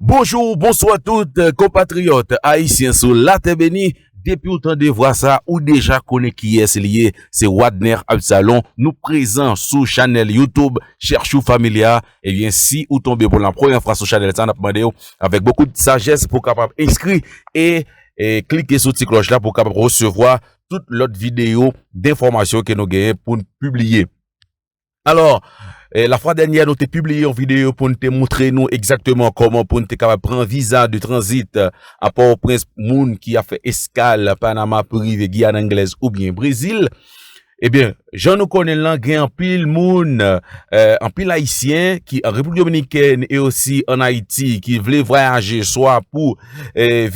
Bonjour, bonsoir tout konpatriyòt ayisyen sou latè beni. Depi ou tande vwa sa a, ou deja konnen kiyès li ye. Se Wadner Absalon. Nou prezan sou chanèl YouTube Cherchou Familia. Ebyen, si ou tonbe pou la premyè fwa sou chanèl sa a, n ap mande ou avèk bokou de sajès pou w kapab enskri e klike sou ti klòch la pou w kapab resevwa tout lòt videyo denfòmasyon ke nou genyen pou n pibliye. Alò, la fwa dènyè nou te pibliye yon videyo pou n te moutre nou egzakteman kòman pou n te kapab pran viza de tranzit a Pòtoprens pou moun ki ap fè eskal Panama pou rive Giyàn Anglèz oubyen Brezil. Ebyen, jan nou konnen l lan, gen anpil moun, anpil Ayisyen ki an Repiblik Dominikèn e osi an Ayiti ki vle vwayaje swa pou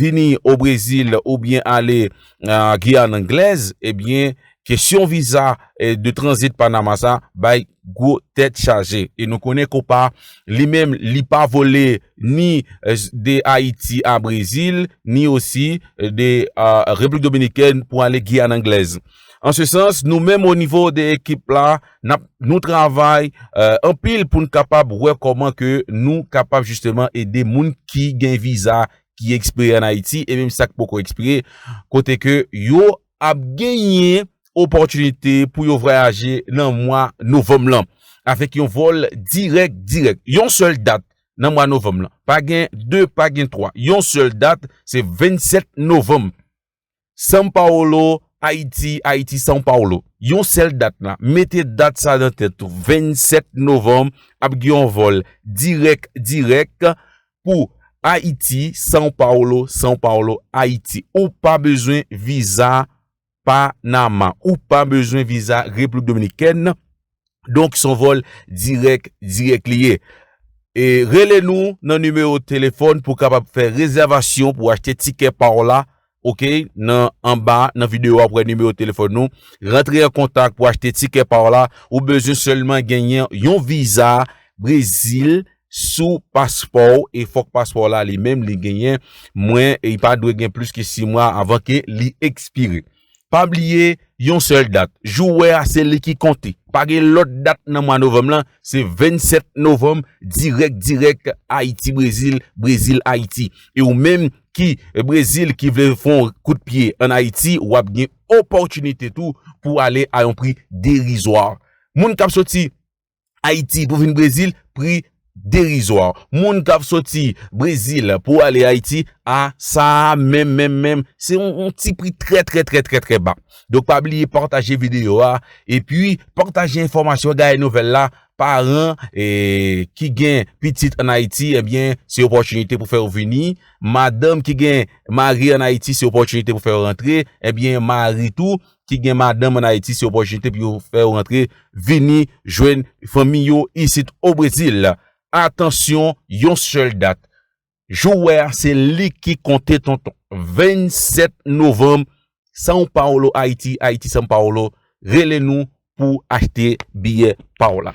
vini o Brezil oubyen ale nan Guyane Anglaise, ebyen kesyon viza de tranzit Panama sa bay gwo tèt chaje. E nou konnen Copa li menm li pa vole ni de Ayiti a Brezil, ni osi de Replik Dominikèn pou ale Guyane Anglaise. An se sans, nou menm o nivo de ekip la, nou travay anpil pou n kapab wè kòman ke nou kapab jisteman ede moun ki gen viza ki ekspire an Ayiti e menm sa k poko ekspire kote ke yo ap genyen opòtinite pou yo vwayaje nan mwa novanm lan avèk yon vòl dirèk dirèk. Yon sèl dat nan mwa novanm lan. Pa gen 2, pa gen 3. Yon sèl dat se 27 novanm. São Paulo, Ayiti, Haiti, São Paulo, Yon sèl dat la, mete dat sa nan tèt ou, 27 novanm ap gen yon vòl dirèk dirèk pou Ayiti, São Paulo, São Paulo, Haiti. Ou pa bezwen viza Panama, ou pa bezwen viza Repiblik Dominikèn, Donk son vol direk direk li ye. E rele nou nan nimewo telefon pou kapab fè rezèvasyon pou achte tikè pa w la. Ok, nan anba nan videyo a pou wè nimewo telefon nou. Rantre an kontak pou achte tikè pa w la. Ou bezwen selman genyen yon viza Brezil sou paspò w. E fòk paspò w la li menm li genyen mwen e pa dwe gen plis ki 6 mwa avan ke li ekspire. Pa bliye yon sèl dat, jou wè a se li ki konte. Pa gen lòt dat nan mwa novanm lan, se 27 novanm dirèk dirèk Ayiti Brezil, Brezil Ayiti. E ou menm ki Brezil ki vle fè yon kout pye an Ayiti, w ap gen opòtinite tou pou ale a yon pri derizwa. Moun k ap soti Ayiti pou vin Brezil, pri derizwa. Moun k ap soti Brezil pou ale Ayiti, a sa a menm menm menm, se yon ti pri trè trè trè trè trè ba. Donk pa bliye pataje videyo a, epi pataje enfòmasyon Gaye Nouvèl la, paran ki gen pitit an Ayiti, ebyen eh se opòtinite pou fè yo vini, madanm ki gen mari an Ayiti se opòtinite pou fè yo rantre, ebyen eh mari tou, ki gen madanm an Ayiti se opòtinite pou yo fè yo rantre vini jwenn fanmi yo isit o Brezil. Atansyon yon sèl dat jou wè a se li ki konte tonton. 27 novanm São Paulo Ayiti, Ayiti São Paulo rele nou pou achte biyè pa w la.